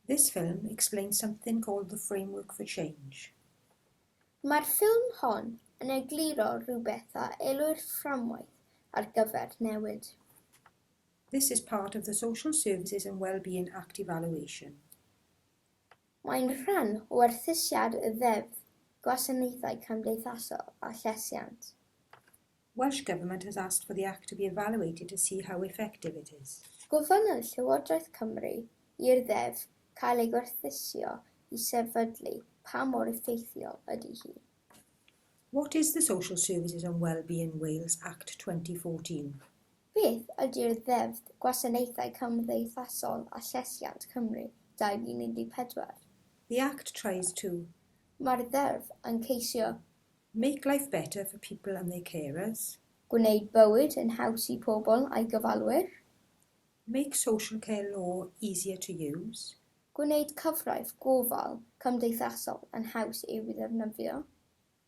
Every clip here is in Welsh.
This film explains something called the framework for change. Mae'r ffilm hon yn egluro rhywbeth a elwir fframwaith ar gyfer newid. This is part of the Social Services and Wellbeing Act evaluation. Mae'n rhan o werthusiad y Ddeddf Gwasanaethau Cymdeithasol a Llesiant. Welsh Government has asked for the Act to be evaluated to see how effective it is. Gofynnodd Llywodraeth Cymru i'r Ddeddf cael ei gwerthuso i sefydlu pa mor effeithiol ydy hi. What is the Social Services and Wellbeing Wales Act 2014? Beth ydy'r Ddeddf Gwasanaethau Cymdeithasol a Llesiant, Cymru, 2014? The Act tries to. Mae'r Ddeddf yn ceisio Make life better for people and their carers. Gwneud bywyd yn haws i pobl a'i gofalwyr. Make social care law easier to use. Gwneud cyfraith gofal cymdeithasol yn haws i'w ddefnyddio.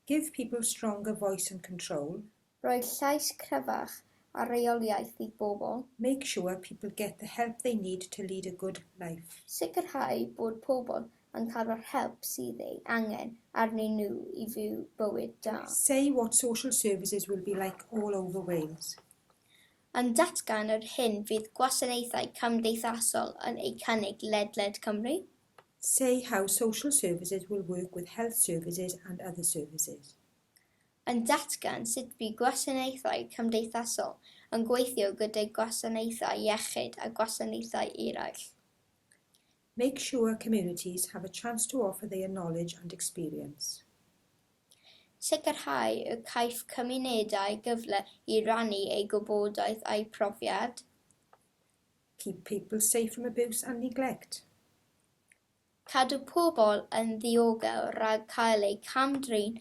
Give people stronger voice and control. Rhoi llais cryfach a rheoliaeth i bobl. Make sure people get the help they need to lead a good life. Sicrhau bod pobl yn cael yr help sydd ei angen arnyn nhw i fyw bywyd da. Say what social services will be like all over Wales. Yn datgan yr hyn fydd gwasanaethau cymdeithasol yn eu cynnig ledled Cymru. Say how social services will work with health services and other services. yn datgan sut bu gwasanaethau cymdeithasol yn gweithio gydag gwasanaethau iechyd a gwasanaethau eraill. Make sure communities have a chance to offer their knowledge and experience. Sicrhau y caiff cymunedau gyfle i rannu eu gwybodaeth a'u profiad. Keep people safe from abuse and neglect. Cadw pobl yn ddiogel rhag cael eu cam-drin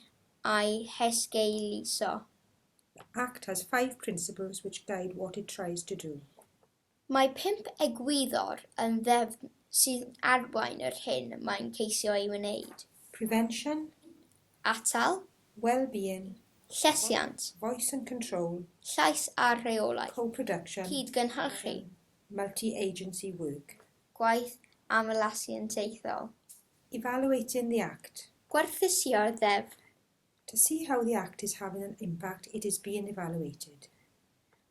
a'u hesgeuluso. The Act has five principles which guide what it tries to do. Mae pump egwyddor yn ddefn sy'n arwain yr hyn mae'n ceisio ei wneud. Prevention. Atal. Well-being. Llesiant. Voice and control. Llais a rheolaeth. Co-production. Cyd-gynhyrchu. Multi-agency work. Gwaith aml asiantaethol. Evaluating the Act. Gwerthusio'r Ddeddf. To see how the Act is having an impact, it is being evaluated.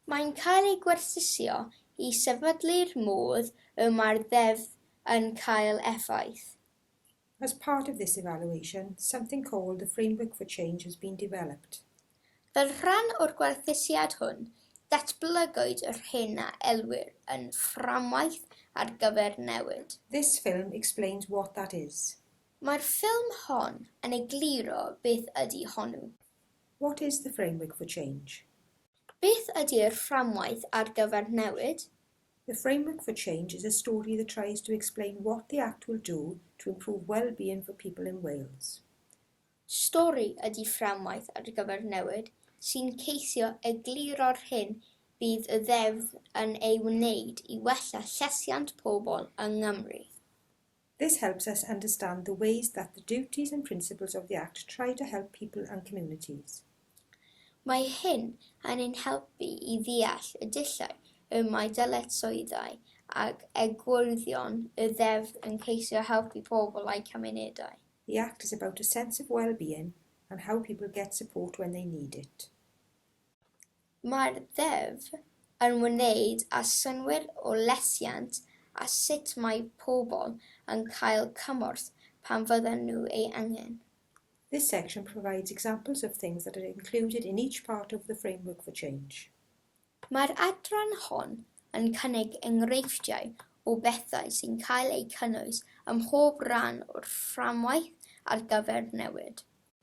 Mae'n cael ei gwerthusio i sefydlu'r modd y mae'r Ddeddf yn cael effaith. As part of this evaluation, something called the Framework for Change has been developed. Fel rhan o'r gwerthusiad hwn, datblygwyd yr hyn a elwir yn Fframwaith ar gyfer Newid. This film explains what that is. Mae'r ffilm hon yn egluro beth ydy honnw. What is the Framework for Change? Beth ydy'r Fframwaith ar gyfer Newid? The Framework for Change is a story that tries to explain what the Act will do to improve well-being for people in Wales. Stori ydy Fframwaith ar gyfer Newid sy'n ceisio egluro'r hyn bydd y Ddeddf yn ei wneud i wella llesiant pobl yng Nghymru. This helps us understand the ways that the duties and principles of the Act try to help people and communities. Mae hyn yn ein helpu i ddeall y dulliau y mae dyletswyddau ac egwyddorion y Ddeddf yn ceisio helpu pobl a'u cymunedau. The Act is about a sense of well-being and how people get support when they need it. Mae'r Ddeddf yn wneud â synnwyr o lesiant a sut mae pobl yn cael cymorth pan fyddan nhw ei angen. This section provides examples of things that are included in each part of the Framework for Change. Mae'r adran hon yn cynnig enghreifftiau o bethau sy'n cael eu cynnwys ym mhob rhan o'r Fframwaith ar gyfer Newid.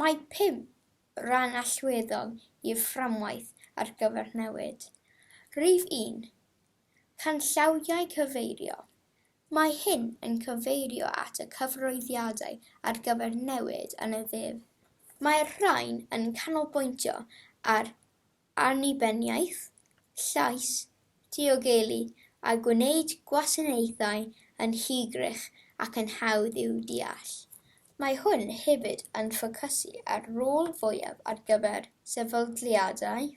Mae pum rhan allweddol i'r Fframwaith ar gyfer Newid. Rhif un, canllawiau cyfeirio. Mae hyn yn cyfeirio at y cyfarwyddiadau ar gyfer newid yn y ddeddf. Mae'r rhain yn canolbwyntio ar annibyniaeth, llais, diogelu a gwneud gwasanaethau yn hygyrch ac yn hawdd i'w deall. Mae hwn hefyd yn ffocysu ar rôl fwyaf ar gyfer sefydliadau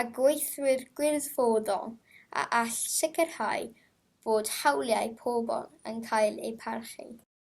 a gweithwyr gwirfoddol a all sicrhau bod hawliau pobl yn cael eu parchu.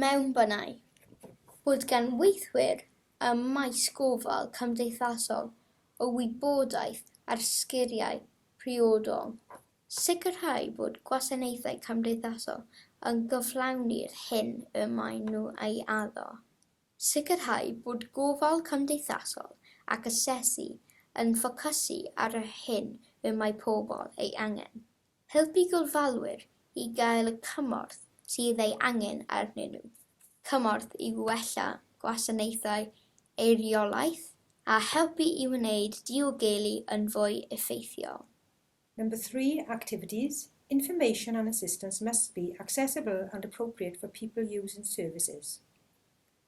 Mewnbynai bod gan weithwyr ym maes gofal cymdeithasol y wybodaeth a'r sgiliau priodol, sicrhau bod gwasanaethau cymdeithasol yn cyflawni'r hyn y maen nhw ei addo, sicrhau bod gofal cymdeithasol ac asesu yn ffocysu ar yr hyn y mae pobl ei angen. Helpu gofalwyr i gael y cymorth sydd ei angen arnyn nhw, cymorth i wella gwasanaethau eiriolaeth a helpu i wneud diogelu yn fwy effeithiol. Number three, activities, information and assistance must be accessible and appropriate for people using services.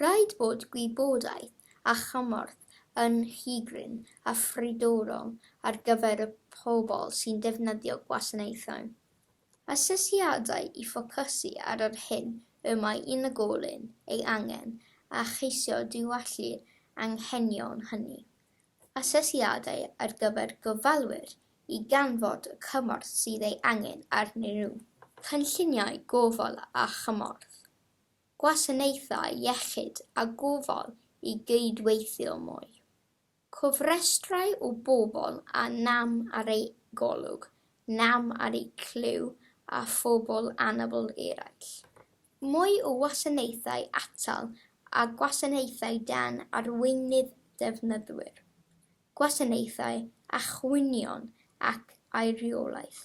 Rhaid bod gwybodaeth a chymorth yn rhy-gryn a phridorol ar gyfer y pobl sy'n defnyddio gwasanaethau. Asesiadau i ffocysu ar yr hyn y mae unigolyn ei angen a cheisio diwallu'r anghenion hynny. Asesiadau ar gyfer gofalwyr i ganfod y cymorth sydd ei angen arnyn nhw. Cynlluniau gofal a chymorth. gwasanaethau iechyd a gofal i gydweithio mwy, cofrestrau o bobl â nam ar eu golwg, nam ar eu clyw a phobl anabl eraill, mwy o wasanaethau atal a gwasanaethau dan arweinydd defnyddwyr, gwasanaethau a chwynion ac aeriolaeth.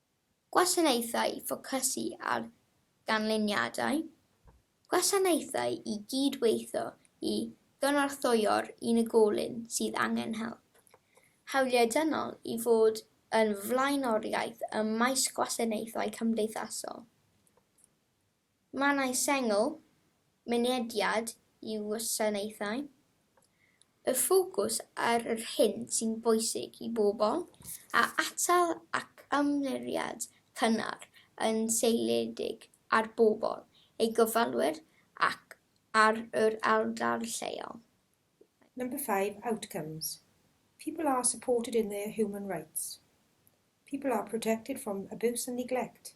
Gwasanaethau i ffocysu ar ganlyniadau, gwasanaethau i gyd-weithio i gynorthwyo'r unigolyn sydd angen help, hawliau dynol i fod yn flaenoriaeth ym maes gwasanaethau cymdeithasol. Mannau sengl, mynediad i wasanaethau, y ffocws ar yr hyn sy'n bwysig i bobl, a atal ac ymyriad cynnar yn seiliedig ar bobl, ei gofalwyr ac ar yr ardal lleol. Number five, outcomes, people are supported in their human rights, people are protected from abuse and neglect,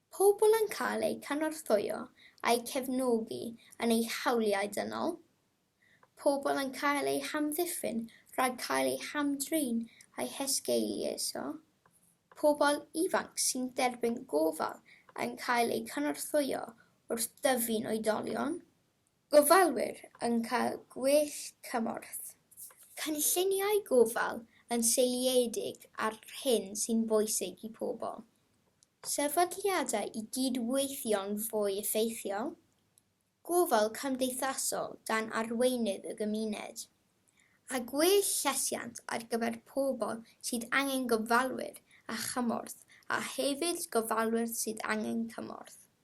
Pobl yn cael eu cynorthwyo a'u cefnogi yn eu hawliau dynol, pobl yn cael eu hamddiffyn rhag cael eu hamdrin a'u hesgeuluso, pobl ifanc sy'n derbyn gofal yn cael eu cynorthwyo wrth dyfu'n oedolion, Gofalwyr yn cael gwell cymorth. Cynlluniau gofal yn seiliedig ar hyn sy'n bwysig i pobl. Sefydliadau i gyd-weithio'n fwy effeithiol. Gofal cymdeithasol dan arweinydd y gymuned. A gwell llesiant ar gyfer pobl sydd angen gofalwyr a chymorth a hefyd gofalwyr sydd angen cymorth.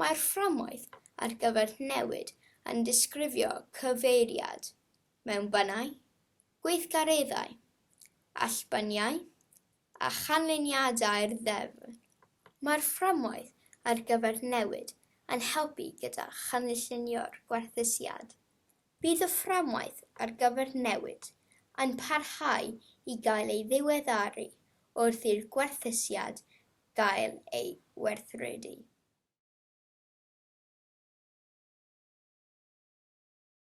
Mae'r fframwaith ar gyfer newid yn disgrifio cyfeiriad mewn bynnau, gweithgareddau, allbyniau a chanlyniadau'r ddeddf. Mae'r fframwaith ar gyfer newid yn helpu gyda chanllunio'r gwerthusiad. Bydd y fframwaith ar gyfer newid yn parhau i gael ei ddiweddaru wrth i'r gwerthusiad gael ei werthredu.